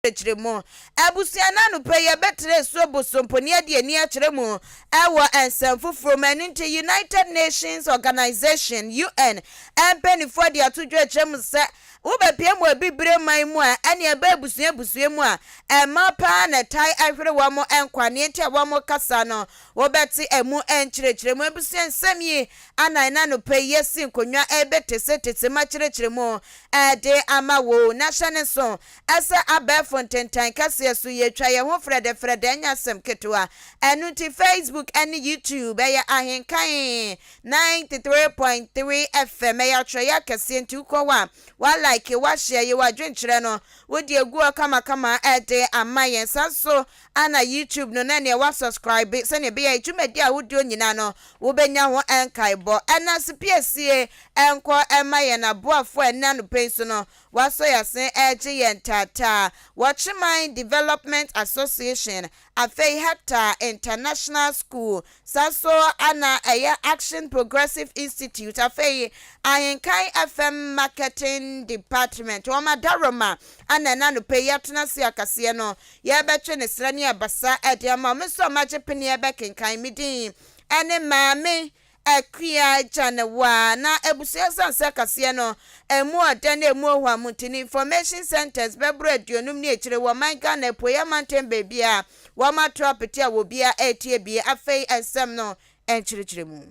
kyerɛkyerɛ mu. Abusua no anɔpa yi bɛtra asuo boso mpɔni aduani akyerɛ mu wɔ nsɛm foforɔ mu. Ɛno nti United Nations Organization, UN, mpaninfoɔ de ato dwa kyerɛ mu sɛ wobɛpia mu abibire man mu a ɛne ɛba abusua abusua mu a mmaa pa ara na ɛtae hwere wɔn nkwa neɛ nti a wɔn kasa no wobɛte ɛmu nkyerɛkyerɛ mu. Abusua nsɛm yi anan no anɔpa yi yɛsi nkonnwa ɛbɛtese tese ma kyerɛkyerɛ mu de ama wo na hyɛ ne so Ɛsɛ abɛɛfo ntentan kɛseɛ so yɛtwa yɛn ho frɛdɛfrɛdɛ ɛnyɛ asɛm ketewa ɛno nti Facebook ɛne YouTube ɛyɛ ahenkan 93.3 FM ɛyɛ atwerɛyɛ akɛseɛ nti wokɔ hɔ a wa like wa share yɛ wadwenkyerɛ no wode agu hɔ kamakama ɛde ama yɛn saa nso ana YouTube no na ɛneɛ wa subscribe sɛdeɛ ɛbɛyɛ a dwumadi a wode onyina no wobɛnya ho nkaebɔ ɛnase piesie ɛnkɔ ɛma yɛn aboafoɔ a ɛnɛ anɔpɛ yi nso no Wɔasɔ yɛn ase regye yɛn ntaataa wɔ Chimae Development Association, afei Hector International School, sa so a na ɛyɛ Action Progressive Institute, afei Ahenkan FM Marketing Department. Wɔn adaworoma a na ɛnɛ anɔpa yi yɛatena ase akaseɛ no, yɛrebɛtwe ne serɛ ne abasa de ama wo. Me nso a magye pene rebɛkenkan, me din ne Maame Akua agya ne wo a, na abusua asiane sɛ kaseɛ no ɛmu ɔdɛ na ɛmu ɔhuamu nti no information centres bɛboro aduonum ne akyire wɔ ɔman Ghana apueɛ amantam baabiara a wɔn ato apete a obiara ɛretie bie afei nsɛm no nkyerɛkyerɛ mu.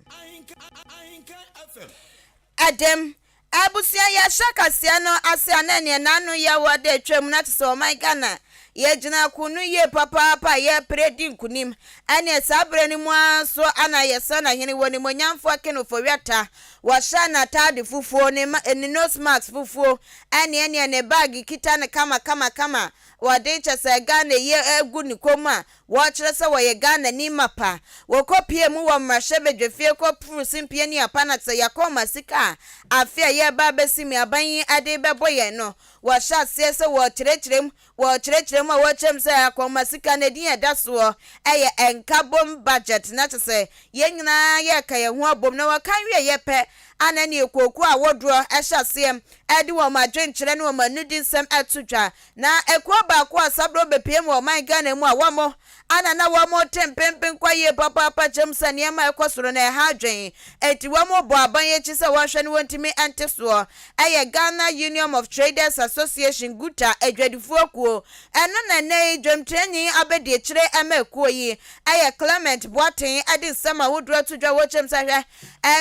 Ɛdem, abusua yɛ hyɛ kaseɛ no ase a na neɛ n'ano yɛ wɔ de atwa mu na te sɛ ɔman Ghana yɛ gyina ko no yie papaapa a yɛ pere di nkunim ɛneɛ saa berɛ no mu ara nso ana yɛ sɛn ahene wɔ nimonyamfoɔ Ken Ofori-Atta wɔ hyɛ n'ataade fufuo ne ma ne nose mask fufuo ɛne ɛneɛ ne bag kita no kama kama kama wɔ de kyɛ sɛ Ghana yɛ gu ne kɔn mu a Wɔkyerɛ sɛ wɔyɛ Ghanani mapa. Wɔkɔ pie mu wɔ mmarahyɛ badwafie kɔ puru se mpie ne apa na sɛ yɛakɔ ma sika a, afe a yɛreba abɛsi mu aban yi de bɛbɔ yɛn no, wɔhyɛ aseɛ sɛ wɔrekyerɛkyerɛ mu. Wɔrekyerɛkyerɛ mu a wɔrekyerɛ mu sɛ akɔ ma sika no edin a ɛda soɔ yɛ Nkabom Budget na kyerɛ sɛ yɛn nyinaa yɛreka yɛn ho abom na wɔkan wie yɛ pɛ a na ɛneɛ kookoo ahodoɔ hyɛ aseɛ de wɔn adwenkyerɛ ne wɔn anudi nsɛm to dwa Na ɛkuo baako a Sabro bɛpue mu wɔ ɔman Ghana mu a wɔn a na na wɔn rete mpenpen kɔ yie papaapa kyerɛ mu sɛ nneɛma a ɛkɔ so no na ɛha adwene enti wɔn rebɔ aban akyi sɛ wɔnhwɛ na wɔntumi nte soɔ yɛ Ghana Union of Traders Association, GUTA, adwadifoɔ kuo. Ɛno na ɛnnɛ yi dwamtirani abɛdiakyire ma kuo yi yɛ Clement Boateng de nsɛm ahodoɔ to dwa wɔ kyerɛ mu sɛ hwɛ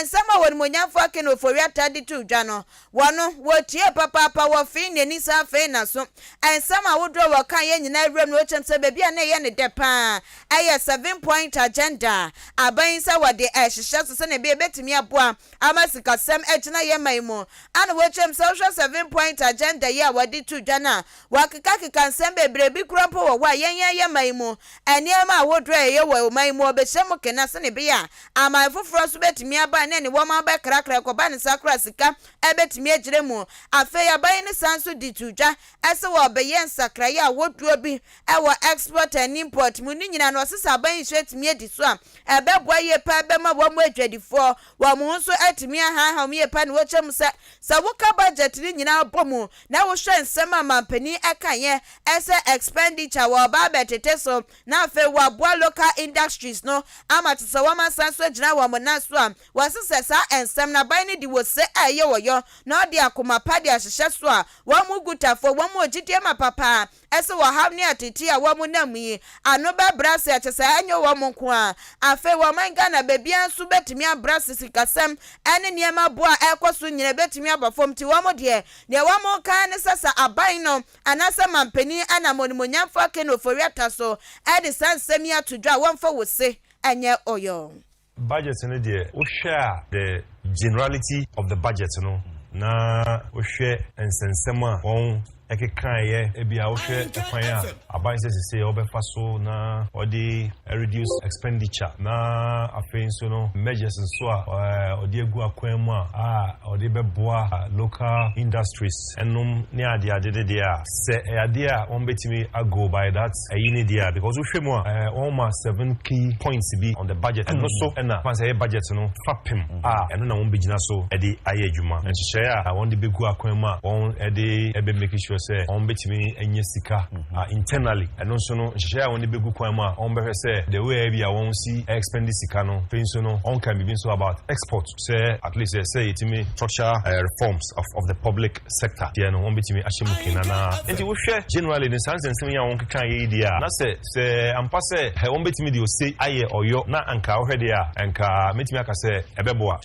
nsɛm a wɔnimonyamfoɔ Akin Ofori-Atta de too dwa no Wɔn no, wotiee papaapa, wɔfee n'ani san fee n'aso. Nsɛm a ahodoɔ a wɔkaeɛ nyinaa wuram no, wokyerɛm sɛ baabi a na ɛyɛ no dɛ pa ara yɛ Seven Point Agenda a aban yi sɛ wɔde rehyehyɛ so sɛdeɛ ɛbɛyɛ ɛbɛtumi aboa ama sikasɛm agyina yɛn man yi mu. Ana wokyerɛm sɛ wohwɛ Seven Point Agenda yi a wɔde to dwa no a, Wɔakekakeka nsɛm bebree, bi koraa mpo wɔ hɔ a yɛnyɛ yɛn man mu. Nneɛma ahodoɔ a ɛyɛ wɔ ɔman mu, wɔbɛhyɛ mu kena sɛdeɛ ɛbɛyɛ a aman foforɔ nso bɛtumi aba ne ne wɔn abɛkrakra ɛkɔba ne saa koraa a sika bɛtumi agyina mu. Afei aban yi no san nso de too dwa sɛ wɔbɛyɛ nsakraeɛ ahodoɔ bi wɔ export and import mu. Ne nyinaa no wɔse sɛ aban yi nso atumi adi so a ɛbɛboa yie paa bɛma wɔn adwadifoɔ Wɔn nso atumi ahahaw me yie paa na wɔakyerɛ mu sɛ, sɛ woka budget no nyinaa bɔ mu na wohwɛ nsɛm a manpanin kaeɛ sɛ expenditure a wɔreba abɛtete so na afei wɔaboa local industries no ama te sɛ wɔasan so agyina wɔn nan so a, wɔse sɛ saa nsɛm no aban no de ose ɛyɛ ɔyɔ na ɔde akoma pa de ahyehyɛ so a, wɔn Gutafoɔ, wɔn wɔ gyidie mapa paa. ɛso ɔhaw ne ateetee a wɔnam yi ano bɛbrɛ ase akyɛ saa ɛnyɛ wɔn nko ara, afei ɔman Ghana baabiara nso bɛtumi abrɛ ase, sikasɛm ne nneɛma bo a ɛrekɔ so nyinaa bɛtumi aba fam nti wɔn deɛ deɛ wɔreka ara ne sɛ sɛ aban no anaasɛ manpanin nam onimuonyamfoɔ Ken Ofori-Atta so de saa nsɛm yi ato dwa a wɔmfa wuse nyɛ Ɔyɔ. Budget no deɛ wohwɛ a the generality of the budget no na wohwɛ nsɛnsɛm a wɔn ɛkekaeɛ ebia wohwɛ ɛkwan a aban sɛ sesei ɔbɛfa so na ɔde reduce expenditure na afei nso no measures nso a ɔde agu akwan mu a a ɔde bɛboa local industries ɛnom ne adeade dedeɛ a sɛ ɛyɛ adeɛ a wɔn bɛtumi ago by that Ɛyi ne deɛ a because wo hwɛ mu a ɛɛ wɔn ma seven key points bi on the budget ɛno so ɛna wɔn sɛ ɛyɛ budget no fapem a ɛno na wɔn bɛ gyina so ɛde ayɛ adwuma nhyehyɛeɛ a wɔn de bɛ gu akwan mu a wɔn ɛde ɛbɛ make sure sɛ wɔn bɛ tumi anya sika a internally ɛno nso no nhyehyɛeɛ a wɔn de bɛ gu kwan mu a wɔn bɛ hwɛ sɛ the way a ebi a wɔn si expend sika no afei nso no wɔn kan biribi nso about export sɛ at least sɛ yɛtumi structure ɛɛ reforms of of the public. sector deɛ no wɔn bɛtumi ahyɛ mu kena na nti wo hwɛ generally no saa nsɛnsɛm yi a wɔn keka yɛ yi deɛ a na sɛ sɛ ampa sɛ hɛ wɔn bɛtumi de ose ayɛ ɔyɔ na anka wo hwɛ deɛ a anka mɛtumi aka sɛ ɛbɛboa.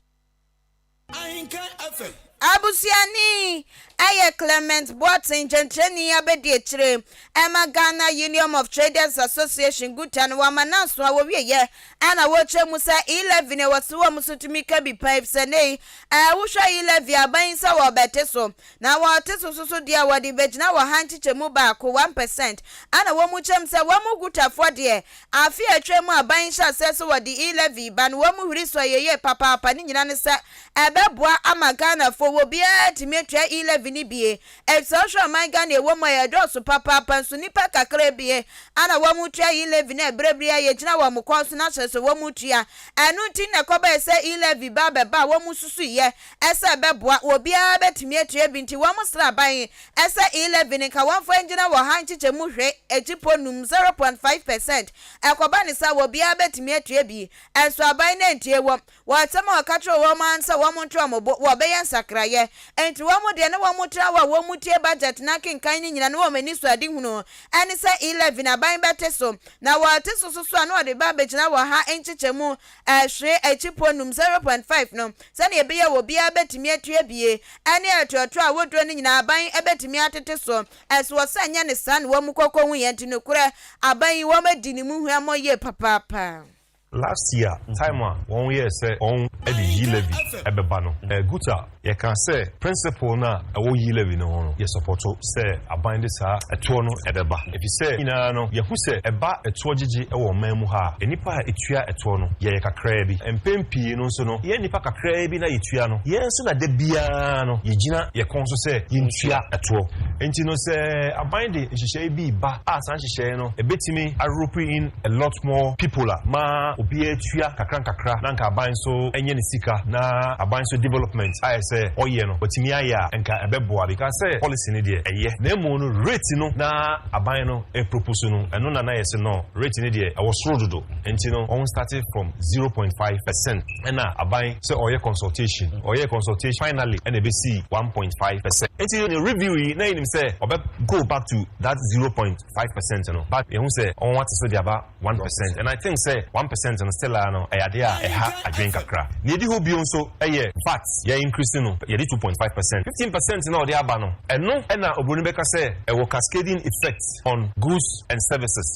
Abusua ni ɛyɛ Clement Boateng kyɛnkyerɛni abɛdiakyire ɛma Ghana Uniom of Traders Association, GUTA, no wɔ amananso a wɔwieɛ Ɛna wɔkyerɛ mu sɛ Elevi ne wɔse wɔn so tumi ka bi pɛn efisɛ nnɛ yi ɛɛ wohwɛ Elevi aban yi sɛ wɔrebɛte so na wɔrete so so so deɛ wɔde bɛgyina wɔ ha nkyekyɛmu baako, one percent, ɛna wɔn kyerɛ mu sɛ wɔn Gutafoɔ deɛ afe a atwam mu aban yi hyɛ aseɛ sɛ wɔde Elevi reba no wɔn huri so ayɛyie papaapa ne nyina ne sɛ ɛbɛboa ama Ghanafoɔ wɔ biara atumi atua Elevi no bie Efisɛ wohwɛ ɔman Ghana a yɛwɔ mu a, yɛdɔɔso papaapa, nso nnipa kakraa bi ara na wɔn tua e-levy no a ɛberɛ biara yɛgyina wɔn kɔn so na kyerɛ sɛ wɔn tua. Ɛno nti na ɛkɔbaeɛ sɛ e-levy baa bɛba a wɔn susuiɛ sɛ ɛbɛboa, obiara bɛtumi atua bi nti wɔn srɛ aban sɛ e-levy no nka wɔn mfa ngyina wɔ ha nkyekyɛ mu hwɛ, ɛgye pɔ num, zero point five percent, ɛkɔba no saa a obiara bɛtumi atua bi, nso aban no antie wɔn. Wɔ asɛm a ɔka kyerɛɛ wɔn ara ne sɛ wɔntra mo bo, wɔbɛyɛ nsakraeɛ. Enti wɔn deɛ na wɔtra hɔ a wɔtie budget no akenkan no nyinaa na wɔn ani sɔ adehunu, ɛne sɛ Eleven aban bɛte so. Na wɔte so soso a na wɔde ba abɛgyina wɔ ha nkyekyɛmu ɛhwee akyi pɔ num, zero point five, no, sɛdeɛ ɛbɛyɛ a obiara bɛtumi atua bie, ɛne ɛtoɔtoɔ ahodoɔ no nyinaa aban bɛtumi atete so. Ɛso wɔ sɛ ɛnyɛ ne saa na wɔn kɔkɔ hu yɛ nti nokorɛ aban yi wɔadi ne mu huammɔ yie papaapa. Last year time a wɔn yɛɛ sɛ wɔn de Yi levy bɛba no, ɛɛ Guta, yɛ kaa sɛ principle no a ɛwɔ Yi levy no ho no yɛ sɔpɔto sɛ aban de saa ɛtoɔ no bɛba efisɛ nyinaa no yɛ hu sɛ ɛba ɛtoɔ gyegye wɔ ɔman mu ha a nnipa a ɛtua ɛtoɔ no yɛyɛ kakraa bi mpɛn pii no nso no yɛn nnipa kakraa bi na yɛtua no yɛn nso na da biara no yɛ gyina yɛ kɔn so sɛ yɛntua ɛtoɔ enti no sɛ aban de nhyehyɛe bi reba a saa nhyehyɛe no Ɛbɛtumi a rope in a lot more people a ma obiara atua kakra nkakra na nka aban nso anya ne sika na aban nso development ayɛ sɛ ɔyɛ no watumi ayɛ a nka ɛbɛboa because sɛ policy no deɛ ɛyɛ na mmom no rate no na aban no ɛpropusu no ɛno na na yɛ se nɔɔ rate no deɛ ɛwɔ soro dodo nti no wɔn starte from zero point five percent ɛna aban sɛ ɔyɛ consultation ɔyɛɛ consultation finally ɛna ɛbɛsii one point five percent nti ne review yi na yɛnim sɛ ɔbɛ go back to that zero point five percent no but yɛhu sɛ wɔn ate so de aba one percent and I think sɛ one percent no still ara no ɛyɛ adeɛ a ɛha adwene kakra. Nea edi hɔ bio nso yɛ vat yɛ increase no yɛde two point five percent, fifteen percent no a wɔde aba no ɛno na oburoni bɛka sɛ ɛwɔ cascading effect on goods and services.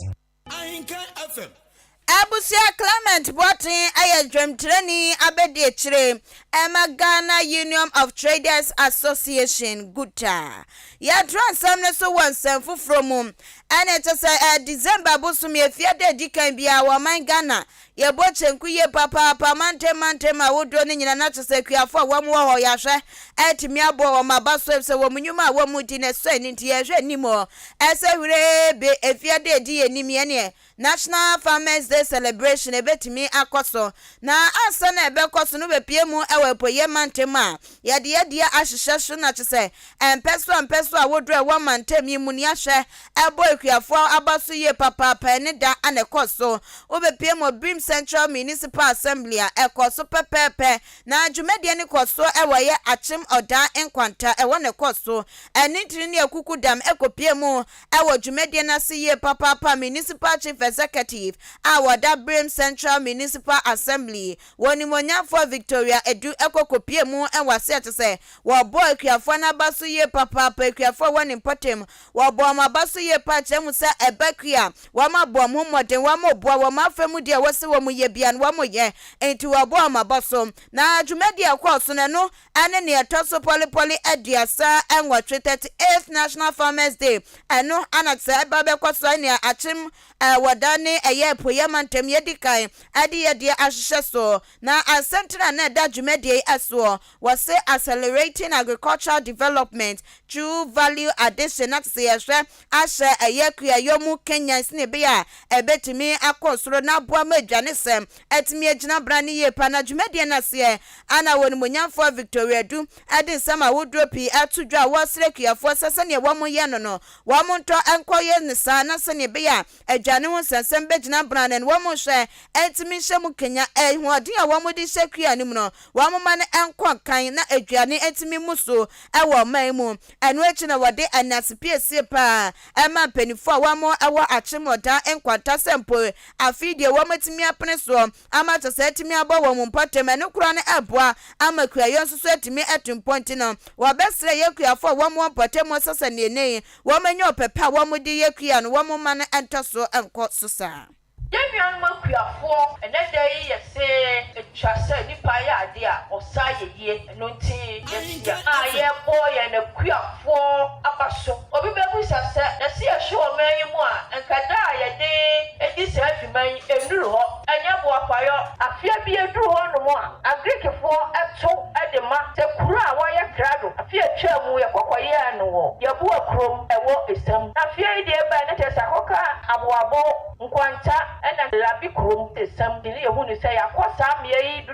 Ahinkan FM, Abusua Clement Boateng yɛ dwamtirani abadiakyire ma Ghana Union of Traders Association, GUTA. Yɛatrɛ nsɛm no so wɔ nsɛm foforɔ mu ɛna ɛkyɛ sɛ ɛyɛ December bosome afie da adi kan biara wɔ ɔman Ghana. Yɛbɔ kyenku yie papaapa mantam mantam ahodoɔ no nyinaa na kyɛ sɛ akuafoɔ a wɔn wɔ hɔ yɛahwɛ atumi abɔ wɔn aba so efisɛ wɔn nnwuma a wɔn di no ɛsɔ ani nti yɛhwɛ anim hɔ ɛsɛ hweree be afie da adi yɛn anim yɛn neɛ National Farmers Day Celebration a ebetumi akɔ so na ansa na ɛbɛkɔ so no bepue mu wɔ Apueeɛ Mantam a yɛde adie ahyehyɛ so na kyesɛ mpɛsoa mpɛsoa ahodoɔ a ɛwɔ mantam yi mu ne ahwɛ ɛbɔ akuafoɔ aba so yie papaapa ɛne da a na ɛkɔ so wɔ bepue mu Birim Central Municipal Assembly a ɛkɔ so pɛpɛɛpɛ na dwumadie no kɔ so wɔ ɛyɛ Akyem Ɔdaa Nkwanta ɛhɔ na ɛkɔ so ɛno ntini ne akuku dam ɛkɔpue mu wɔ dwumadie no ase yie papaapa Municipal Chief Executive a wɔda Birim Central Municipal Assembly W'Onimonyamfoɔ Victoria Adu kɔ kɔpie mu wɔ ase ɛte sɛ wɔbɔɔ akuafoɔ no aba so yie papaapa akuafoɔ a ɛwɔ ne mpɔtam wɔbɔɔ wɔn aba so yie paa kyerɛ mu sɛ ɛba kue a wɔn abɔ wɔn ho mmɔden wɔn reboa wɔn afa mu deɛ ɛwɔ sɛ wɔn yɛ bia no wɔn yɛ enti wɔbɔɔ wɔn aba so na dwumadie a ɛkɔɔ so no ɛno ɛne nea ɛtɔ so pɔlepɔle aduasa nwɔtwe, thirty eighth National Farmers Day, ɛno na saa ɛba bɛkɔ so ne akyem wɔ da ne ɛyɛ apueɛ mantam yɛdi kan de yɛ deɛ ahyehyɛ so. Na asɛntena na ɛda dwumadie yi soɔ, wɔse accelerating agricultural development through value addition, na te sɛ yɛhwɛ ahyɛ ɛyɛ kuayɔ mu kanyan sene bere a ɛbɛtumi akɔ soro na aboa ma aduanesɛm atumi agyina mmra no yie pa na dwumadie no aseɛ ana wɔnimonyamfoɔ Victoria Du de nsɛm ahodoɔ pii ato dwa a wɔsrɛ kuafoɔ sɛ sɛdeɛ wɔyɛ no no wɔntɔ nkɔyɛ no saa na sɛdeɛ ɛbɛyɛ a Agya no ho nsɛnsɛm bɛgyina branann wɔn nhwɛ ntumi nhyɛ mu kanya ahoɔden a wɔn de hyɛ kua no mu no wɔn ma no nkɔ nkan na aduane ntumi mmu so wɔ ɔman mu ɛno akyi na wɔde ananse piesie paa ɛma mpaninfoɔ a wɔn wɔ akyere mu ɔdaa nkwanta sɛ mpo afei deɛ wɔn atumi apene soɔ ama nsase atumi abɔ wɔ wɔn mpɔtam. Ɛno koraa no boa ama kuayɔ nso so atumi atu mpɔn nti no, wɔbɛsrɛ yɛn kuafo a wɔwɔ mpɔtam hɔ sɛ sɛnea wɔanya ɔpɛ pa a wɔde yɛ kua no, wɔmma no ntɔ so nkɔ so saa. Yɛn nuanom akuafoɔ, ɛnnɛ da yi yɛse atwa sɛ nipa yɛ adeɛ a ɔsaa yɛ yie. Ɛno nti yɛhyia a yɛrebɔ yɛn akuafoɔ aba so. Obi bɛbisa sɛ, na sɛ yɛhyɛ ɔman yi mu a, anka da a yɛde redi saa dwuma yi nnuru hɔ? Ɛnyɛ boapayɔ. Afeɛ bi aduru hɔnom a, Agirikfoɔ to de ma sɛ kuro a wɔayɛ krado. Afe a ɛtwaa mu, yɛkɔ kɔyɛɛ no wɔ Yeboah kurom ɛwɔ Esam. Na afeɛ yi deɛ ɛbaeɛ no kyerɛ sɛ akɔka Aboabo, Nkwanta, ɛna Labi kurom, Esam, de ne yɛhunuu sɛ yɛakɔ saa mmea yi dodoɔ.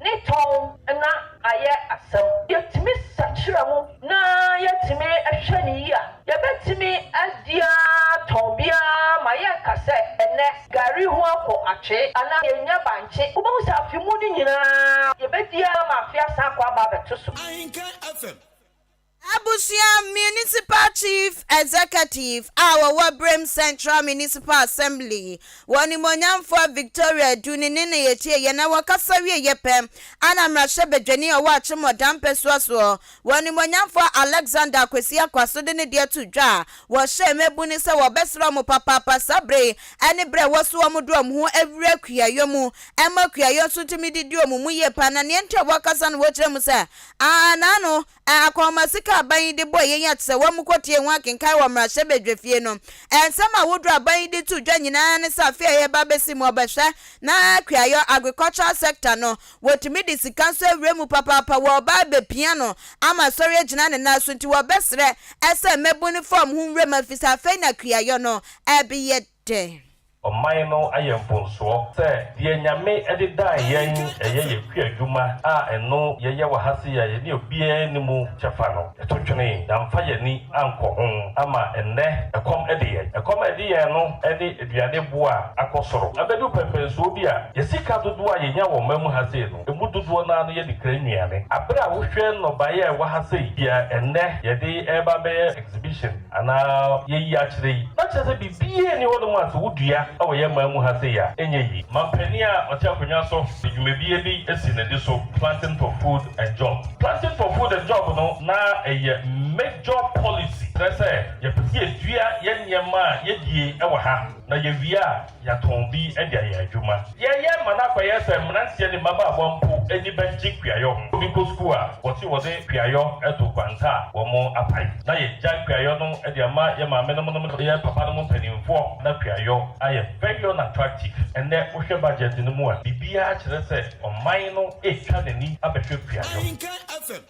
ne tɔn na ayɛ asɛm. Yɛtumi sakyera mu na yɛtumi hwɛ no yie a, yɛbɛtumi adua tɔn biara ma yɛnka sɛ ɛnnɛ gari ho akɔ atwee anaa yɛnnya bankye. Wobɛhu sɛ afe mu no nyinaa yɛbɛdua ma afe asan akɔ aba abɛto so. Ahinkan FM. Abusua Municipal Chief Executive a wɔwɔ Brem Central Municipal Assembly, wɔ Animuonyamfoɔ Victoria Adu ne ne na yɛhyieiɛ na wɔkasa wieeɛ pɛ ana Mmarahyɛ Badwani a ɔwɔ Akyemɔda mpɛsoa soɔ, wɔ Animuonyamfoɔ Alexander Akwasi Akwaso de ne deɛ too dwa a wɔhyɛɛ mmabu no sɛ wɔbɛsra wɔn papaapa saa berɛ yi ne berɛ a ɛwɔ so wɔde wɔn ho awura kuayɔ mu ma kuayɔ nso tumi de di wɔn mu yie paa na neɛ nti a wɔkasa no wɔkyerɛ mu sɛ, Aane ano. a akɔnhoma sika aban yi de bɔɔ yɛn a ɛte sɛ wɔn kɔtiee ho akenkan wɔ mmarahyɛ badwafie no. Nsɛm a ahodoɔ a aban yi de too dwa nyinaa ne sɛ afe a yɛreba abɛsi mu wɔbɛhwɛ na kuayɔ, agricultural sector, no wɔtumi de sika nso awura mu papaapa, wɔreba abɛpia no ama asɔre agyina ne nan so nti wɔbɛsrɛ sɛ mmabun no fa wɔn ho nwura mu efisɛ afei na kuayɔ no rebɛyɛ dɛ. Ɔman no ayɛ mponsoɔ sɛ deɛ Nyame de dan yɛn ɛyɛ yɛ kuadwuma a ɛno yɛyɛ wɔ ha sei a yɛne obiara nni mu kyɛfa no, ɛto twenee, yɛamfa yɛn ani ankɔ ho ama ɛnnɛ ɛkɔm de yɛn. Ɛkɔm a ɛde yɛn no ne aduane boɔ a akɔ soro. Abɛdu pɛmpɛnsoɔ bi a, yɛn sika dodoɔ a yɛnya wɔ ɔman mu ha sei no, ɛmu dodoɔ no ara no yɛde kura nnuane. Aberɛ a wohwɛ nnɔbaeɛ a ɛwɔ ha sei, deɛ ɛnnɛ yɛde reba abɛyɛ, exhibition, anaa yɛyi akyerɛ yi, na kyerɛ sɛ biribiara nni hɔnom a sɛ wodua wɔ yɛn man mu ha sei a, ɛnyɛ yie. Manpanin a ɔte akonnwa so de dwumadie bi asi n'ani so, Planting for Food and Job. Planting for Food and Job no, na ɛyɛ major policy, kyerɛ sɛ, yɛpɛ sɛ yɛdua yɛn nneɛma a yɛdie wɔ ha, na yɛwie a, Yɛatɔn bi de ayɛ adwuma. Yɛyɛ ma no akɔyɛ sɛ mmeranteɛ ne mmabaawa mpo ani bɛgye kuayɔ. Obi kɔ sukuu a, wɔse wɔde kuayɔ to kwanta a wɔapae. Na yɛgya kuayɔ no de ama yɛn maamenom nom ne yɛn papanom mpanimfoɔ. Na kuayɔ ayɛ very unattractive. Ɛnnɛ wohwɛ budget no mu a, biribiara kyerɛ sɛ ɔman no retwa n'ani abɛhwɛ kuayɔ. Ahinkan FM,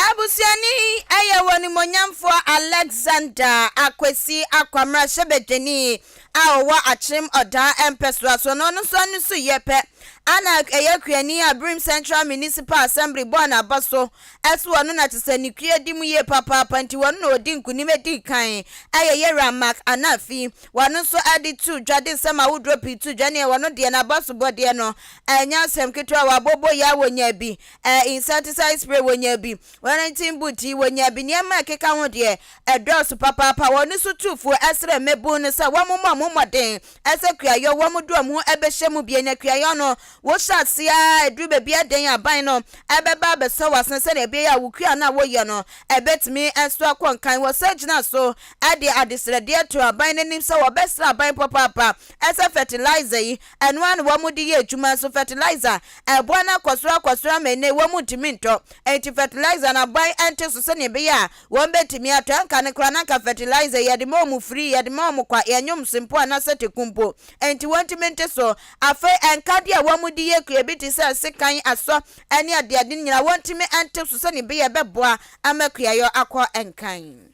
Abusuani yi yɛ Onimuonyamfoɔ Alexander Akwasi Akwa mmarahyɛbadwani a ɔwɔ Akyem Ɔdaa mpɛsoa so na ɔno nso anusuiɛ pɛ ana ɛyɛ kuani a Birim Central Municipal Assembly bɔɔ no aba so ɛso wɔ no na te sɛ ne kuo di mu yie papaapa nti wɔno na ɔdi nkunim ɛdi kan ɛyɛ Yera Mark Anafi wɔno nso ɛde to dwa de nsɛm ahodoɔ pii to dwa neɛ wɔno deɛ n'abasobɔdeɛ no ɛnyɛ asɛm ketewa wɔabobɔ yɛ a wɔnyaa bi ɛ, insecticide spray wɔnya bi, Wellington boot yi wɔnya bi, nneɛma a ɛkeka ho deɛ, ɛdɔɔso papaapa. Wɔn no so tu fuo srɛ mmabun no sɛ wɔmmɔ wɔn mmɔden sɛ kuayɔ wɔn de wɔn ho bɛhyɛ mu bio. Na kuayɔ no, wohyɛ aseɛ ara a, ɛduru baabi a dɛn, aban no bɛba abɛsɔ w'asene sɛdeɛ ɛbɛyɛ a wo kua no a woyɛ no bɛtumi nso akɔ nkan. Wɔsan gyina so de adesrɛdeɛ to aban no anim sɛ wɔbɛsrɛ aban papaapa sɛ fertilizer yi Ɛno ara na wɔde yɛ adwuma nso. Fertilizer a ɛboa no akɔ soro akɔ soro ama nnɛ wɔntumi ntɔ. Enti fertilizer no aban nte so sɛnea ɛbɛyɛ a wɔbɛtumi atɔ. Ɛnka no koraa na anka fertilizer yɛde ma wɔn firi, yɛde ma wɔn kwa, yɛn nyoms mpo anaasɛ teku mpo. Enti wɔntumi nte so. Afei nkadeɛ a wɔde yɛ kua bi te sɛ sekan, asɔ ne adeade no nyinaa wɔntumi nte so sɛnea ɛbɛyɛ a ɛbɛboa ama kuayɔ akɔ nkan.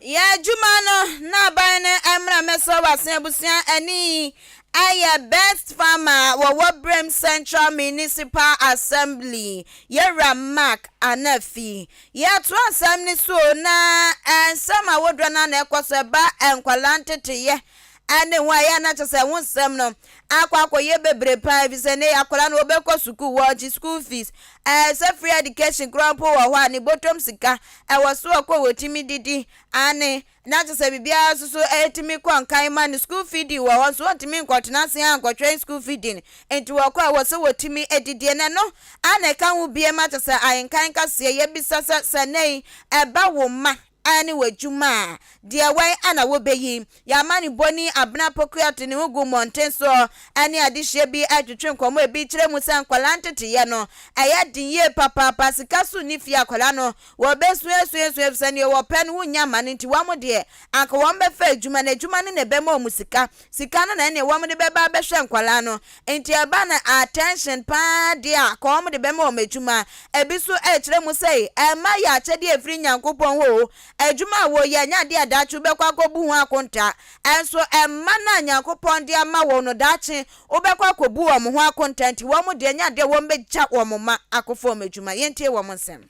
Yɛ adwuma no na aban no mmra mmɛsra w'ase abusua Ɛne yi yɛ Best Farmer a wɔwɔ Brem Central Municipal Assembly Yɛwura Mark Anafi Yɛtoa asɛm no so o na nsɛm ahodoɔ no ara na ɛkɔ so Ɛba nkwadaa nteteyɛ ne ho a ɛyɛ a na kyerɛ sɛ ho nsɛm no akɔ akɔyɛ bebree paa efisɛ nnɛ yɛ akwadaa no wɔbɛkɔ sukuu wɔregye school fees ɛɛ sɛ free education koraa mpo wɔ hɔ a ne bɔtɔm sika ɛwɔ so ɔkɔ wɔtumi didi ane na kyerɛ sɛ biribiara nso so ɛtumi kɔ nkan ma no school feeding wɔ hɔ nso wɔntumi nkɔtena ase a nkɔtwɛn school feeding nti wɔkɔ a ɛwɔ sɛ wɔtumi adidie na ɛno a na ɛka ho bie ma kyerɛ sɛ ahenkan kaseɛ yɛbisa sɛ sɛ nnɛ yi ɛba wo mma ne w'adwuma a, deɛ wai na wobeyi? Yɛamane bɔ ni Abena Pokuah to ne ho gu mmɔnten soɔ ne adehyeɛ bi retwetwe nkɔmmɔ a ebi kyerɛ mu sɛ nkwadaa nteteeɛ no, ɛyɛ den yie papaapa, sika so nni fie, akwadaa no wɔbɛsuasuasua efisɛ deɛ wɔpɛ no wonnya mma no nti wɔn deɛ anka wɔbɛfa adwuma na adwuma no na ɛbɛma wɔn sika Sika no na ɛne wɔn de bɛba abɛhwɛ nkwadaa no, nti ɛba no attention paa deɛ a ka wɔn de bɛma wɔn adwuma. Ɛbi nso ɛkyerɛ mu sɛ ɛmma yɛ akyɛdeɛ a ɛfiri Nyankopɔn hɔ o, adwuma a wɔyɛ ɛnyɛ adeɛ a daakye wobɛkɔ akɔbu ho akontaa, ɛnso ɛmma no a Nyankopɔn de ama wɔn no daakye wobɛkɔ akɔbu wɔn ho akontaa, nti wɔn deɛ ɛnyɛ adeɛ a wɔbɛgya wɔn mma akɔfa wɔn adwuma. Yɛntie wɔn nsɛm.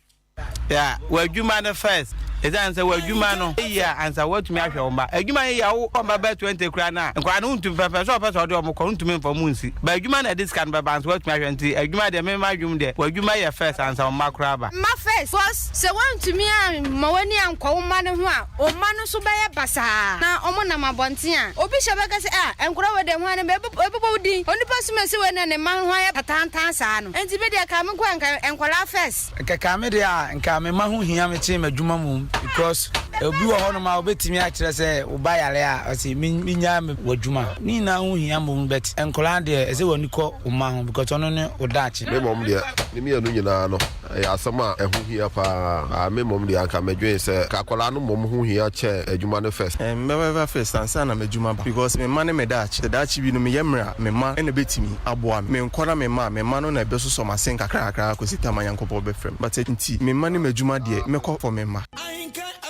Yeah, w'adwuma no first. Ɛsiane sɛ w'adwuma no yɛ yie a, ansa woatumi ahwɛ wo mma. Adwuma yɛ yie a, wowɔ mma bɛyɛ twenty koraa no a, nkwadaa no wontumi mfa mfa. Sɛ ɔpɛ sɛ ɔde wɔn kɔ, wontumi mfa wɔn nsi. But adwuma na ɛde sika no bɛba ansa woatumi ahwɛ. Nti adwuma deɛ, me m'adwene mu deɛ, w'adwuma yɛ first ansa wo mma koraa ba. Mma first, cos sɛ woantumi amma w'ani ankɔ wo mma no ho a, wo mma no nso bɛyɛ basaa na wɔnam abɔnten a, obi hyɛ bɛka sɛ, ah, nkwadaa wei deɛ, hwan na ɛbɛbɔ wo din? Onipa sumasɛ wei na ne mma ho ayɛ patantan saa no. Nti me deɛ, ka menkɔ nkwadaa first. Nka me deɛ a nka me ma ho hia me kyen m'adwuma mu because obi wɔ hɔ nom a wobɛtumi akyerɛ sɛ woba yare a ɔse menyaa me w'adwuma ne nyinaa ho hia mmom but nkɔlaa deɛ ɛsɛ w'ani kɔ wo ma ho because ɔno ne wo daakye. Me mmom deɛ ne mmienu nyinaa no ɛyɛ asɛm a ɛho hia paa me mmom deɛ anka medwen sɛ nka akɔlaa no mmom ho hia kyɛn adwuma no first. Mɛba first ansa na m'adwuma aba because me mma ne me daakye sɛ daakye bi no meyɛ mmerɛ a me mma na ɛbɛtumi. aboa me. Me nko na me mma a, me mma no na ɛbɛsosɔ m'asen kakrakakra ara kɔsi tam a Nyankopɔn bɛfrɛ me. But enti me mma ne m'adwuma deɛ, mɛkɔ for me mma.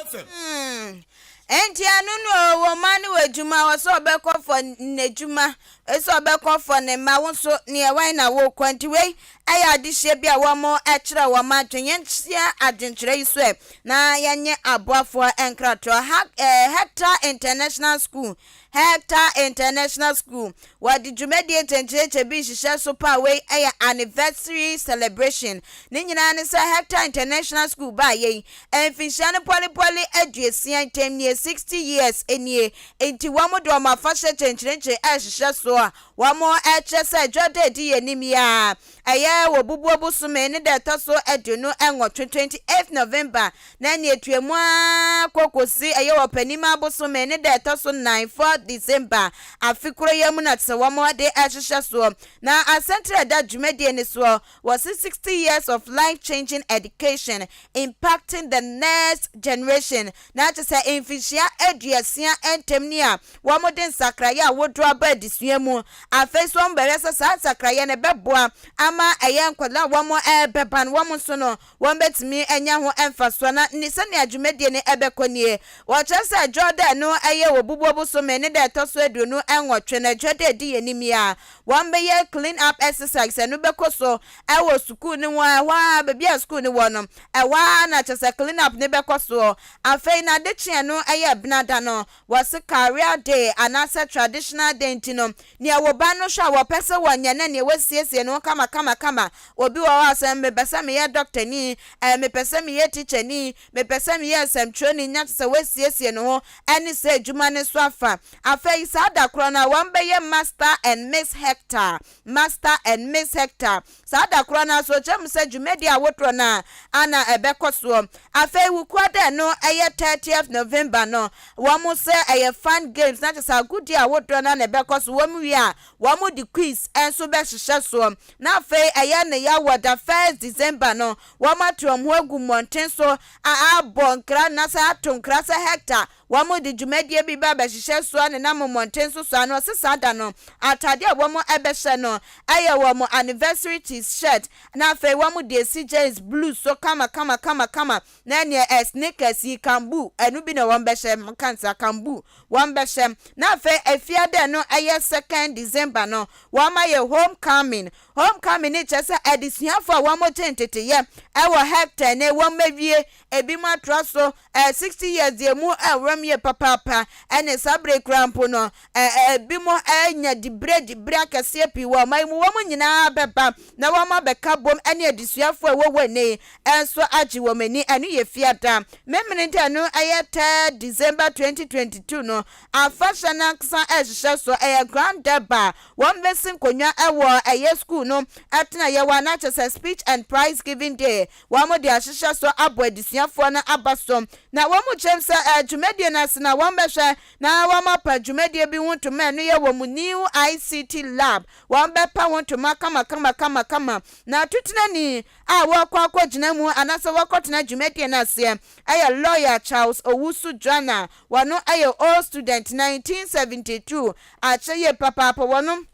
Hmm, enti ɛno ne oo, wo mma ne w'adwuma, ɔwɔ sɛ ɔbɛkɔ for n'adwuma, wei sɛ ɔbɛkɔ for ne mma, wo nso neɛ wɛn na wokɔ? Nti wei ɛyɛ adehyeɛ bi a wɔkyerɛ wɔn adwene. Yɛnsua adwenkyerɛ yi so ɛ, na yɛnyɛ aboafoɔ nkratoɔ. Hector International School Hector International School, wɔde dwumadie nkyɛnkyerɛkyerɛ bi rehyehyɛ so paa wei yɛ anniversary celebration. Ne nyinaa ne sɛ Hector International School baa yei mfinhyia no pɔlepɔle aduosia ntam nie, 60 years nie, nti wɔn de wɔn afahyɛ kyɛnkyerɛnkyerɛ rehyehyɛ so a wɔrekyerɛ sɛ dwa da a ɛdi yɛn anim yi ara Ɛyɛ wɔ Bubuo bosome ne da ɛtɔ so aduonu nwɔtwe, 28th November, na ɛne ɛtua mu ara kɔ kɔsi ɛyɛ wɔ Panim abosome ne da ɛtɔ so nnan, 4th December. Afe korɔ yi ara mu na te sɛ wɔn de rehyehyɛ soɔ na asɛntire ɛda dwumadie no soɔ wɔ se 60 years of life-changing education impacting the next generation Na kyerɛ sɛ mfirihyia aduosia ntam ni a wɔde nsakraeɛ a wodoɔ aba adesua mu. Afei nso wɔbɛhwɛ sɛ saa nsakraeɛ no bɛboa ama ɛyɛ nkwadaa a wɔbɛba no wɔn nso no wɔbɛtumi anya ho mfasoɔ na sɛnea dwumadie no bɛkɔ nie. Wɔkyerɛ sɛ dwoɔ da a ɛno yɛ wɔ Bubuo bosome ne da a ɛtɔ so aduonu nwɔtwe no, dwoɔ da a ɛdi yɛn anim yi a wɔbɛyɛ clean up exercise, ɛno bɛkɔ so Ɛwɔ sukuu no ho ɛhɔ ara, baabi a sukuu no wɔ no, ɛhɔ ara na kyerɛ sɛ clean up no bɛkɔ soɔ. Afei na ade kye ɛno yɛ Benada no, wɔse Career Day anaasɛ Traditional Day nti no, neɛ wo ba no hwɛ a wɔpɛ sɛ wɔnyɛ na neɛ wɔasiesie ne ho kamakamakama. Obi wɔ hɔ a sɛ mepɛ sɛ meyɛ dɔktani, ɛɛ mepɛ sɛ meyɛ tikyani, mepɛ sɛ meyɛ nsɛmtwerɛni na kyerɛ sɛ wasiesie ne ho ne saa adwuma no so afa. Afei saa da korɔ no a wɔbɛyɛ Master and Miss Hector. Master and Miss Hector. Saa da koro no ara nso, ɔkyerɛ mu sɛ dwumadi awotorɔ no ara na ɛbɛkɔ soɔ. Afei Wukua dɛ no yɛ thirtieth November no, wɔn sɛ ɛyɛ fun games na kyerɛ sɛ agodie awotorɔ no ara na ɛbɛkɔ so. Wɔn wie a, wɔde quiz nso bɛhyehyɛ soɔ. Na afei ɛyɛ ne ya wɔ da first December no, wɔate wɔn ho agu mmɔnten so a abɔ nkra anaasɛ ato nkra sɛ Hector Wɔde dwumadie bi ba bɛhyehyɛ so a nenam mmɔnten so saa no se saa da no ataadeɛ a wɔn bɛhyɛ no yɛ wɔn anniversary t-shirt na afei wɔn de asi jeans blue so kama kama kama kama na ɛneɛ ɛ sneakers yi kambu ɛno bi na wɔn bɛhyɛ meka no saa kambu wɔn bɛhyɛ na afei afia dɛ no ɛyɛ second December no wɔn ayɛ home coming home coming ne kyɛ sɛ adesuafo a wɔn gye nteteyɛ ɛwɔ hector ne wɔn awie Ebinom atra so eh, sixty years deɛ emu ɛwɔm yie papaapa, ɛne saa bere yi koraa mpo no eh, eh, ebinom anya dibre dibre akɛseɛ pii wɔ ɔman yi mu. Wɔn nyinaa bɛba na wɔabɛka bom ɛne adesuafoɔ a ɛwɔ hɔ ɛnnɛ yi nso agye wɔn ani. Ɛno yɛ Fiada. Memene deɛ ɛno ɛyɛ third December twenty twenty two no afahyɛ no ankasa ɛrehyehyɛ so. Ɛyɛ Grand Durbar a wɔbɛsi nkonnwa ɛwɔ ɛyɛ sukuu no ɛtenaeɛ hɔ a na kyerɛ sɛ Speech and Prize Giving Day Wɔde ahyehyɛ so abɔ adesuafoɔ no aba so na wɔkyerɛm sɛ dwumadie no ase na wɔbɛhwɛ na wɔapa dwumadie bi ho ntoma a ɛno yɛ wɔn New ICT Lab. Wɔbɛpa ho ntoma kamakamakamakama na tutenani a wɔkɔ akɔgyina mu anaasɛ wɔkɔtena dwumadie no aseɛ yɛ Lawyer Charles Owusu-Dwan a wɔno yɛ Old Student 1972 akyɛ yie papaapa wɔno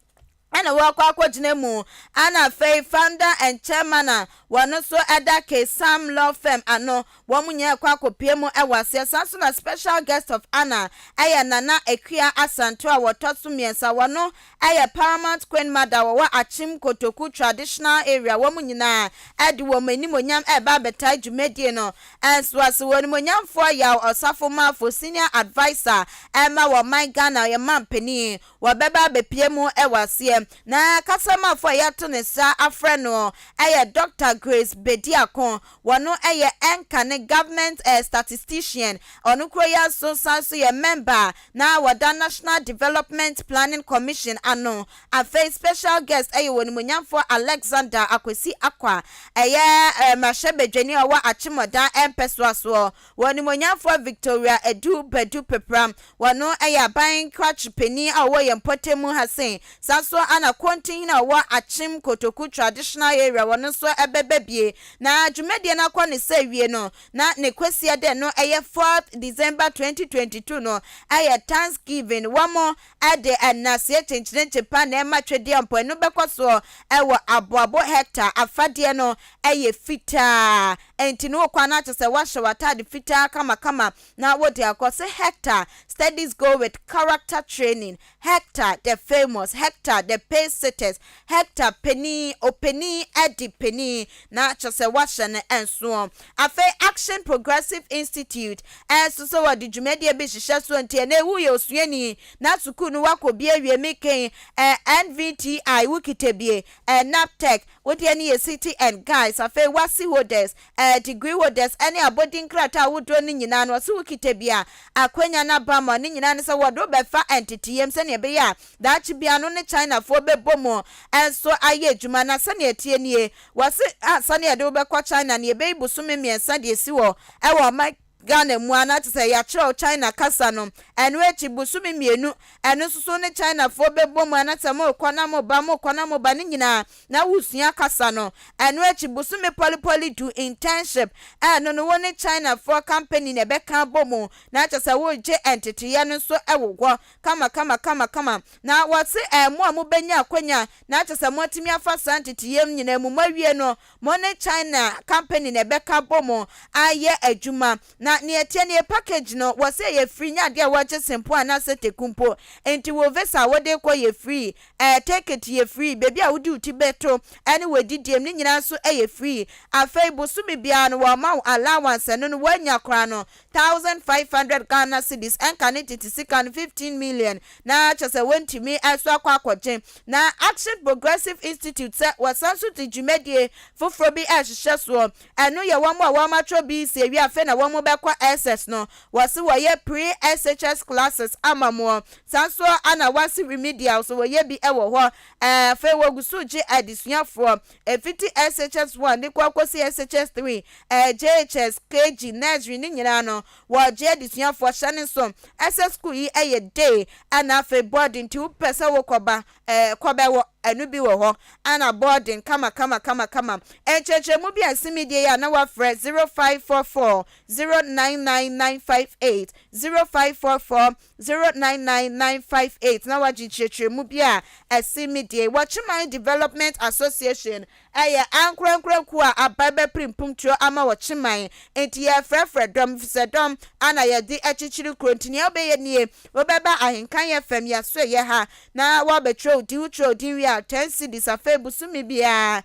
na wɔkɔ akɔgyina mu, ana afei founder and chairman a wɔn nso da Keysam Law Firm ano, wɔn nyinaa rekɔ akɔpue mu wɔ aseɛ. Saa nso na special guest of honour yɛ Nana Akua Asantewaa a wɔtɔ so mmiɛnsa, wɔn yɛ Paramount Queen Mother, wɔwɔ Akyem Kotoku Traditional Area, wɔn nyinaa de wɔn animuonyam reba abɛtae dwumadie no nso ase. Wɔn animuonyamfoɔ Yaw Ɔsafo Marfo, Senior Adviser ma wɔman Ghana yɛn mampanin, Wɔbɛba abɛpue mu wɔ aseɛ. Na kasamafo a yɛato ne sa afrɛ no yɛ Dɔkta Grace Bediako. Ɔno yɛ Enka ne Government Statistician. Ɔno koro yi ara nso san nso yɛ mɛmba a na ɔda National Development Planning Commission ano. Afei special guest yɛ Onimuonyamfoɔ Alexander Akwasi Akwa, ɛyɛ mmarahyɛbadwani a ɔwɔ Akyemmɔdan mpɛsoa soɔ. Wɔ Onimuonyamfoɔ Victoria Adu Badu Pepram, ɔno yɛ aban krakye panin a ɔwɔ yɛn mpɔtam mu ha sei. Saa nso ara na Kɔntihene a ɔwɔ Akyem Kotoku Traditional Area, ɔno nso bɛba bie. Na dwumadie no akɔ ne sɛ awie no, na ne Kwasiada no ɛyɛ fourth December twenty twenty two no yɛ Thanksgiving, wɔn Ɛde nnaseɛ kyenkyerenkye pa na ɛma twedeɛ a mpɔn no bɛkɔ soɔ wɔ aboabo hɛkta afadeɛ no yɛ fitaa. Enti no wokɔ a na kyerɛ sɛ woahyɛ w'ataade fitaa kamakama na wode akɔ. Se hɛkta studies go with character training, hɛkta the famous, hɛkta the pace setters, Hector panin, opanin, adi panin, na kyerɛ sɛ wɔahyɛ no nsoɔ. Afei Action Progressive Institute nso sɛ wɔde dwumadie bi hyehyɛ soɔ nti ɛnnɛ wo yɛ osuani na sukuu no woakɔ bi awie me ken ɛ, NVTI, wokita bi ɛ, NABTEC, wo deɛ no yɛ City and Guilds, afei woase holders ɛ, degree holders ɛne abɔdin nkrataa ahodoɔ no nyinaa no wɔse wokita bi a, akwanya no aba ma wo. Ne nyinaa ne sɛ wɔde wo bɛfa nteteyɛm sɛdeɛ ɛbɛyɛ a Daakye bi ano ne Chinafoɔ bɛbɔ mu nso ayɛ adwuma. Na sɛdeɛ ɛteɛ nie, wɔse ansa na yɛde wo bɛkɔ China no, yɛbɛyi bosome mmiɛnsa de asi hɔ wɔ ɔman Ghana mu anaa te sɛ yɛakyerɛ wo China kasa no. Ɛno akyi bosome mmienu, ɛno nso so wo ne Chinafoɔ bɛbɔ mu anaa te sɛ morekɔ na moba, morekɔ na moba no nyinaa na woresua kasa no. Ɛno akyi bosome pɔlepɔle du, internship, ɛno no wo ne Chinafoɔ company na ɛbɛka abɔ mu na kyerɛ sɛ woregye nteteeɛ no nso wɔ hɔ. kamakamakama, na wɔse ɛɛ mo a mobɛnya akwanya na kyerɛ sɛ moatumi afa saa nteteyɛm nyinaa mu, moawie no, mo ne China company na ɛbɛka abɔ mu ayɛ adwuma, na nea ɛteɛ nie, package no, wɔse ɛyɛ free, nyɛ adeɛ a wɔregye se mpo anaasɛ teku mpo, enti wo visa a wode rekɔ yɛ free, ɛɛ ticket yɛ free, baabi a wode wo ti bɛto ɛne w'adidie mu, ne nyinaa nso yɛ free, afei bosome biara no wɔma wo allowance, ɛno no woannya koraa no, thousand five hundred Ghana cedis ɛnka ne tete sika no fifteen million na kyerɛ sɛ wɔntumi nso akɔ akɔgye na Action Progressive Institute sɛ wɔsan nso de dwumadie foforɔ bi rehyehyɛ soɔ ɛno yɛ wɔn a wɔatwerɛ BEC awie afei na wɔbɛkɔ SS no wɔse wɔyɛ pre SHS classes ama moɔ saa nso ana wɔase remedial so wɔyɛ bi wɔ hɔ afei wɔgu so gye adesuafoɔ Ɛfiti SHS one de kɔ akɔsi SHS three, ɛyɛ JHS, KG, Nursery no nyinaa no, wɔregye adesuafoɔ. Hyɛ no nso sɛ sukuu yi yɛ day ɛna afei boarding nti wopɛ sɛ wokɔ ba ɛɛ kɔ bɛ wɔ ɛno bi wɔ hɔ ɛna boarding kama kama kama kama. Nkyerɛkyerɛmu bi a ɛsen me deɛ yi a na woafrɛ zero five four four zero nine nine nine five eight zero five four four Zero nine nine nine five eight na wagye nkyerɛkyerɛmu bi a ɛsen me deɛ wɔ Chiman Development Association, ɛyɛ ankorankorɛ kuo a aban bɛpere mpomtuo ama wɔ Chiman, enti yɛrefrɛfrɛ dɔm, efisɛ dɔm ana yɛde akyekyere kuro, nti nea wobɛyɛ nie, wobɛba Ahenkanyɛ fam yɛn asoɛeɛ ha na woabɛtwerɛ wo din, wotwerɛ wo din wie a, ten cedis, afei bosome biara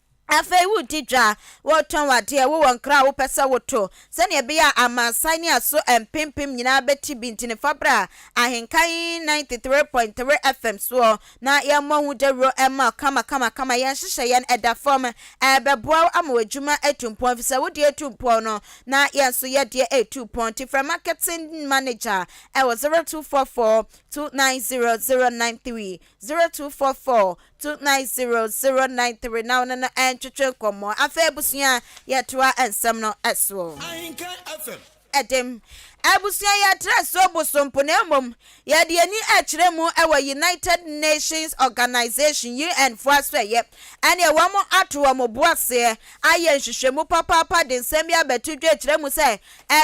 Afei wodi dwa, wotɔn adeɛ, wowɔ nkra a wopɛ sɛ woto, sɛdeɛ ɛbɛyɛ a amansan ne aso mpempem nyinaa bɛte bi, nti no fa bra Ahenka yi 93.3 FM soɔ na yɛmmɔ ho dawuro mma wo kama kama kama, yɛn nhyehyɛeɛ no ɛda fam, ɛbɛboa wo ama w'adwuma atu mpɔn ɛfiri sɛ wodeɛ retu mpɔn no na yɛn nso yɛdeɛ retu mpɔn, nti frɛ marketing manager wɔ 0244 290 093. Zero two four four two nine zero zero nine three na wo ne no ntwetwe nkɔmmɔ. Afei abusua, yɛtoa nsɛm no soɔ. Ahenkan FM. Ɛdem. Abusua yɛtrɛ so bosompo na mmom yɛde ani kyerɛ mu wɔ United Nations Organization, UN, foɔ asoɛeɛ ɛneɛ wɔn ato wɔn bo aseɛ ayɛ nhwehwɛmu papaapa de nsɛm bi abɛto dwa kyerɛ mu sɛ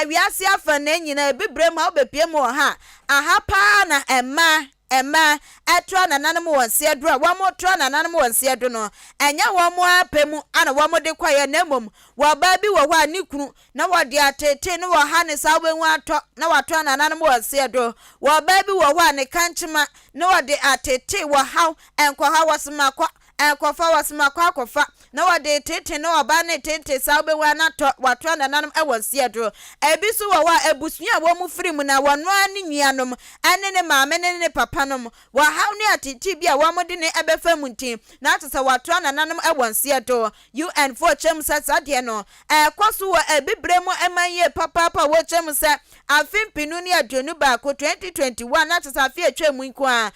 wiase afanna nyinaa abibire mu a wobɛpue mu wɔ ha a, aha paa na mmaa mma ɛtra nananom wɔn seɛ do a wɔn tra nananom wɔn seɛ do no, ɛnyɛ wɔn ara pɛ mu na wɔn de kɔeɛ, na mmom wɔ ɔbaa bi wɔ hɔ a ne kunu na wɔde ateetee no wɔ ha ne saa wobɛhu atɔ na watra nananom wɔn seɛ do, wɔ ɔbaa bi wɔ hɔ a ne kankyema na wɔde ateetee wɔ haw nkɔhaw ɔsoma kɔ Ɛkɔfa wɔsom akɔ akɔfa na wɔde retete no ɔbaa no retete saa wobɛhu a na tɔ wɔato anananom wɔ nseɛ doro. Ɛbi nso wɔ hɔ a abusua a wɔn firi mu na wɔn ara ne nuanom ne ne maame ne ne papa nom wɔ haw ne ateetee bi a wɔn de no bɛfa mu nti na kyerɛ sɛ wɔato anananom wɔ nseɛ doro. UN foɔ kyerɛm sɛ saa deɛ no ɛɛkɔ so wɔ abibire mu man yie papaapa wɔ kyerɛm sɛ afe mpenu ne aduonu baako, 2021, na kyesɛ afe a atwa mu nko ara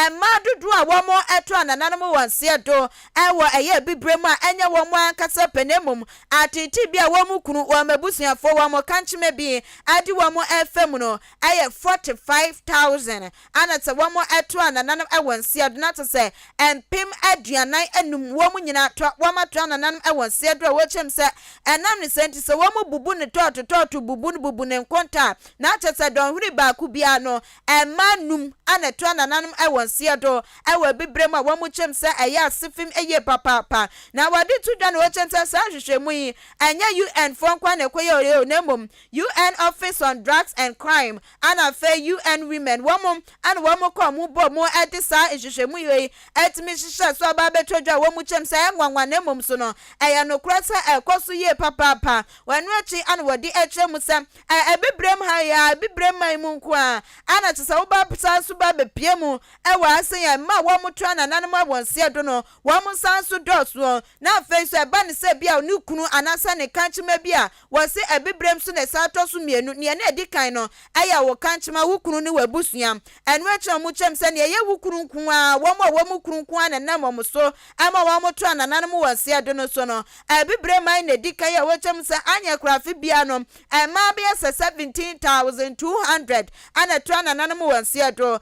mmaa dodoɔ a wɔn ɛto anananom wɔn seɛ do wɔ ɛyɛ abibire mu a ɛnyɛ wɔn ankasa pɛ na mmom ateetee bi a wɔn kunu, wɔn abusuafoɔ, wɔn kankyema bi de wɔn ɛfa mu no ɛyɛ 45,000. Ana sɛ wɔn ɛtoa nananom ɛwɔ nseɛ do na tesɛ mpem aduanan anum wɔn nyinaa toa wɔn atoa nananom ɛwɔ nseɛ do a wɔkyɛm sɛ ɛnam ne saa nti sɛ wɔn bubu ne tɔɔto tɔɔto bubu no bubu ne nkonta a na akyɛ sɛ dɔnhwere baako biara no ɛmaa num ana ɛtoa nananom ɛwɔ nseɛ do ɛwɔ abibire mu a wɔn kyɛm sɛ ɛyɛ asefem yie papaapa na wɔde to dwa na wɔkyɛm sɛ saa nhwehwɛmu yi ɛnyɛ UN foɔ nkoa na ɛkɔyɛeɛ o na mmom UN office on drugs and crime Ɛna afei UN Women wɔn ɛna wɔn kɔ wɔn bɔ mu ɛde saa nhwehwɛmu yei ɛtumi hyehyɛ so aba abɛtɔ dwa wɔ mu kyɛm sɛ ɛyɛ nwanwa na mmom so no ɛyɛ nokorɛ sɛ ɛkɔ so yie papaapa. Wɔ ɛno akyi ɛna wɔde ɛkyerɛ mu sɛ ɛyɛ Abibirem ha yi ara Abibirem man mu nko ara ɛna kyesɛ woba saa nso ba bɛpie mu ɛwɔ ha sɛ yɛn mma a wɔn to anananom a wɔn seɛ do no wɔn nsa nso dɔɔsoɔ na afei nso ɛba no sɛ ebia ne kunu anaasɛ ne kankyema bi a Wɔse abibirem so na ɛsan tɔ so mmienu. Nea na edi kan no, ɛyɛ wo kankyema, wo kunu ne w'abusua. Ɛno akyi na wɔkyerɛm sɛ nea ɛyɛ wo kunu nko ara, wɔn a wɔn kunu nko ara na ɛnam wɔn so ma wɔto anananom wɔ nseɛdo no so no. Abibirem man na edi kan a wɔkyerɛm sɛ anyɛ koraa afe biara no, mmaa bɛyɛ sɛ 17,200 na ɛto anananom wɔ nseɛdo.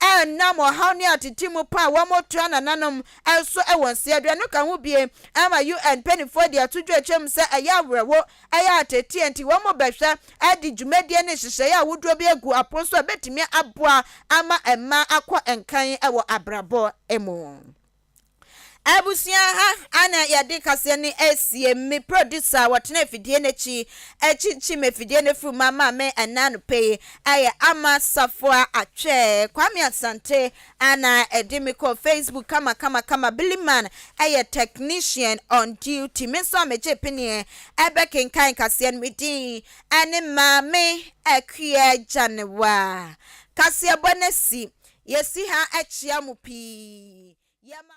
ɛnam ɔhaw ne atete mu pa a wɔtoa nananom so wɔ nseɛ berɛ no ka ho bie ma UN mpaninfoɔ de ato dwakyɛm sɛ ɛyɛ awerɛho, ɛyɛ ateteɛ nti wɔn bɛhwɛ de dwumadie ne nhyehyɛeɛ ahodoɔ bi agu apon so a ɛbɛtumi aboa ama mmaa akɔ nkan wɔ abrabɔ mu. Abusua ha ana yɛde kaseɛ no asie me producer a wɔtena afidie no akyi akyinkyim afidie no afiri mu ama me ɛnɛ anɔpa yi ɛyɛ Ama Safoa Atwɛ Kwame Asante ana ɛde me kɔɔ Facebook kama kama kama Biliman ɛyɛ technician on duty me nso a megye peneɛ ɛbɛkenkan kaseɛ no me din ɛne Maame Akua Gyanewa Kaseɛbɔ no asi Yɛsi ha kyia mo pii. Yɛma.